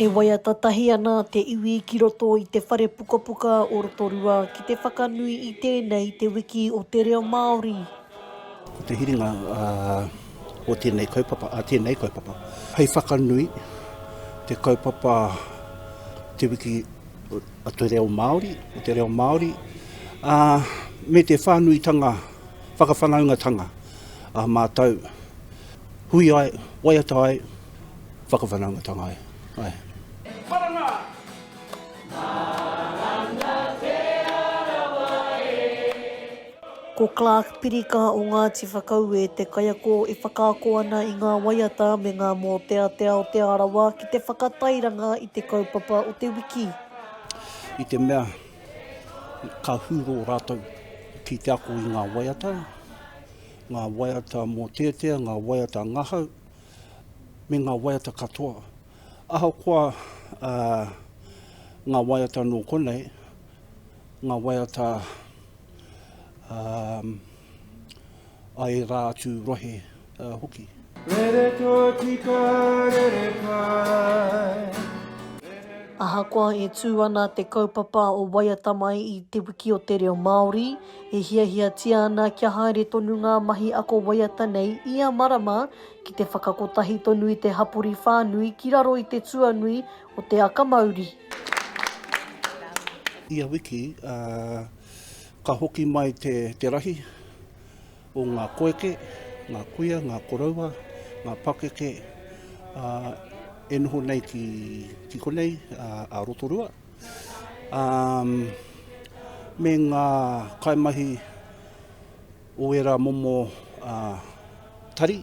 E waiata tahi ana te iwi ki roto i te whare pukapuka o Rotorua ki te whakanui i tēnei te wiki o te reo Māori. Ko te hiringa o tēnei kaupapa, a tēnei kaupapa, hei whakanui te kaupapa te wiki a te reo Māori, o te reo Māori, ā, me te whānuitanga, whakawhanaungatanga ā mātou hui ai, waiata ai, whakawhanaungatanga ai. Ae. Marama! Marama! Ko Clark Pirika o Ngāti Whakaue te kaiako e whakaako ana i ngā waiata me ngā mōteatea o Te Arawa ki te whakatairanga i te kaupapa o te wiki. I te mea ka hurō rātou ki te ako i ngā waiata, ngā waiata mōteatea, ngā waiata ngahau, me ngā waiata katoa. Ahakoa ngā waiata nō konei, Ngā waiata a ērā atu rohe hoki. Rere tōtika, rere kai. Ahakoa e tū ana te kaupapa o Waiata Mai i Te Wiki o te Reo Māori, e hiahiatia ana kia haere tonu ngā mahi ako waiata nei ia marama ki te whakakotahi tonu i te hapori whānui ki raro i te tuanui o Te Aka Mauri. Ia wiki, ka hoki mai te rahi o ngā koeke, ngā kuia, ngā koroua, ngā pakeke e noho nei ki konei a Rotorua, me ngā kaimahi o ērā momo tari.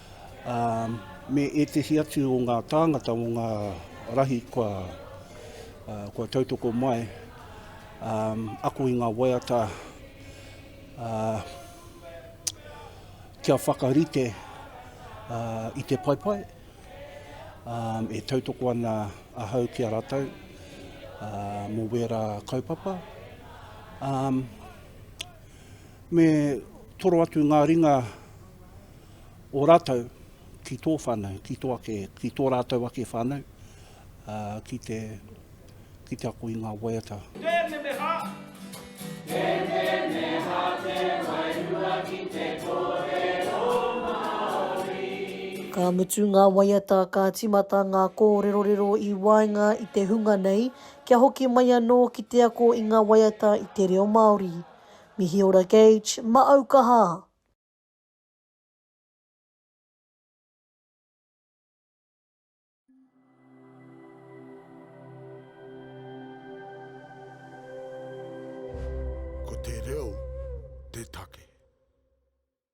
ā, me ētehi atu o ngā tāngata mō ngā rahi kua, ā, kua tautoko mai, ā, ako i ngā waiata, ā, kia whakarite, ā, i te paepae, ā, e tautoko ana ahau ki a rātou, ā, mō wērā kaupapa, ā, me toro atu ngā ringa, o ratou ki tō whanau, ki tō ake, ki tō ratou ake whanau, a, ki te, ki te ako i ngā waiata. Pēpeneha! Pēpeneha te wairua ki te kōrero Māori. Ka mutu ngā waiata ka timata ngā kōrerorero i waenga i te hunga nei kia hoki mai anō ki te ako i ngā waiata i te reo Māori. Mihi ora Gage, ma au kaha! Ko te reo te take.